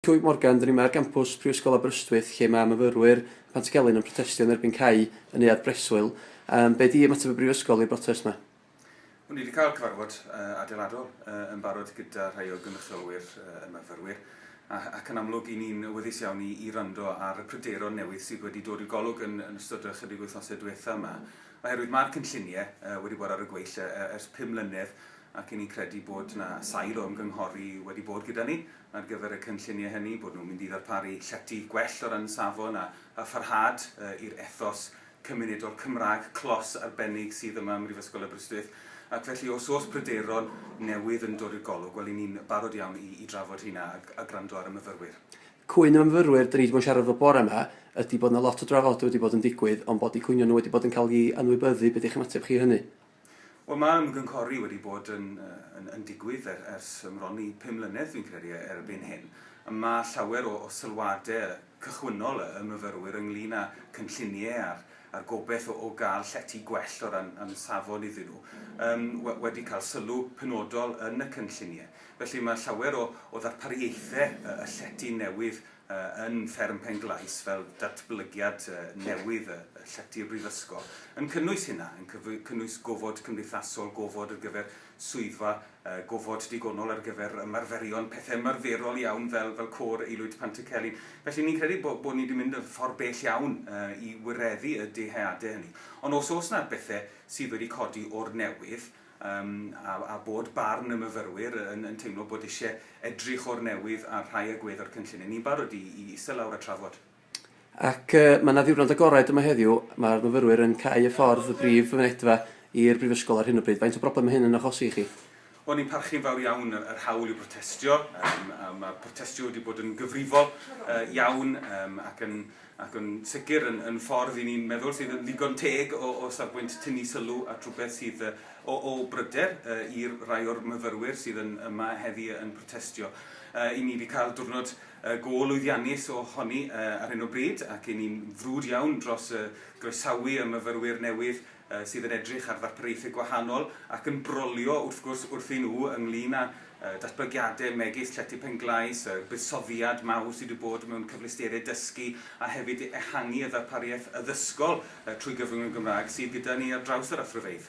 Clwyd Morgan, Dyn ni yma ar gampws Prifysgol Aberystwyth lle mae myfyrwyr Pantycelyn yn protestio yn erbyn cau y neuadd breswyl. Yym, be di ymateb y Brifysgol i'r brotest ma? Wel, ni wedi cael cyfarfod adeiladol yn barod gyda rhai o gynrychiolwyr y myfyrwyr ac yn amlwg 'y ni'n awyddus iawn i wrando ar y pryderon newydd sydd wedi dod i'r golwg yn ystod y chydig wythnosau diwetha' yma oherwydd mae'r cynllunie wedi bod ar y gweill ers pum mlynedd ac 'y ni'n credu bod 'na sail o ymgynghori wedi bod gyda ni ar gyfer y cynlluniau hynny, bod nhw'n mynd i ddarparu llety gwell o ran safon a a pharhad i'r ethos cymunedol Cymraeg clos arbennig sydd yma ym Mhrifysgol Aberystwyth, ac felly os oes pryderon newydd yn dod i'r golwg, wel, 'yn ni'n barod iawn i i drafod rheina a a gwrando ar y myfyrwyr. Cwyn y myfyrwyr 'dyn ni 'di bod yn siarad efo bore 'ma ydy bod 'na lot o drafodau wedi bod yn digwydd ond bod eu cwynion nhw wedi bod yn cael eu anwybyddu, be 'di'ch ymateb chi i hynny? Wel mae ymgynghori wedi bod yn yn digwydd er ers bron i pum mlynedd dwi'n credu e- erbyn hyn a ma' llawer o o sylwade cychwynnol y y myfyrwyr ynglŷn â cynllunie a'r a'r gobeth o o ga'l llety gwell o ran yym safon iddyn nhw yym we- wedi cael sylw penodol yn y cynllunie. Felly ma' llawer o o ddarpariaethe y y llety newydd yn Fferm Penglais fel datblygiad newydd y Llety y Brifysgol, yn cynnwys hynna, yn cynnwys gofod cymdeithasol, gofod ar gyfer swyddfa, gofod digonol ar gyfer ymarferion, pethe ymarferol iawn fel fel Côr Aelwyd Pantycelyn. Felly ni'n credu bo' bo' ni 'di mynd y ffor bell iawn i wireddu y dyheade hynny. Ond os o's 'na bethe sydd wedi codi o'r newydd, Yym, a, a bod barn y myfyrwyr yn, yn teimlo bod eisiau edrych o'r newydd ar rhai agwedd o'r cynllun. Yn ni'n barod i, i eistedd lawr a trafod? Ac yy, mae 'na ddiwrnod agored yma heddiw, mae'r myfyrwyr yn cau y ffordd, y brif fynedfa, i'r Brifysgol ar hyn o bryd. Faint o broblem mae hyn yn achosi i chi? Wel, ni'n parchu'n fawr iawn yr, yr hawl i brotestio. Yym, a mae protestio wedi bod yn gyfrifol yy, iawn, yym, ac yn ac yn sicr yn yn ffordd i ni'n meddwl sydd yn ddigon teg o o safbwynt tynnu sylw at rhywbeth sydd yy o o bryder yy i'r rai o'r myfyrwyr sydd yn yma heddi yy yn protestio. Yy 'yn ni 'di ca'l diwrnod yy go lwyddiannus o honi yy ar hyn o bryd ac 'yn ni'n frwd iawn dros yy groesawu y myfyrwyr newydd sydd yn edrych ar ddarpariaethau gwahanol ac yn brolio wrth gwrs wrthyn nhw ynglŷn â datblygiadau megis Llety Penglais, y buddsoddiad mawr sydd wedi bod mewn cyfleusterau dysgu a hefyd ehangu y ddarpariaeth addysgol trwy gyfrwng y Gymraeg sydd gyda ni ar draws yr athrofeydd.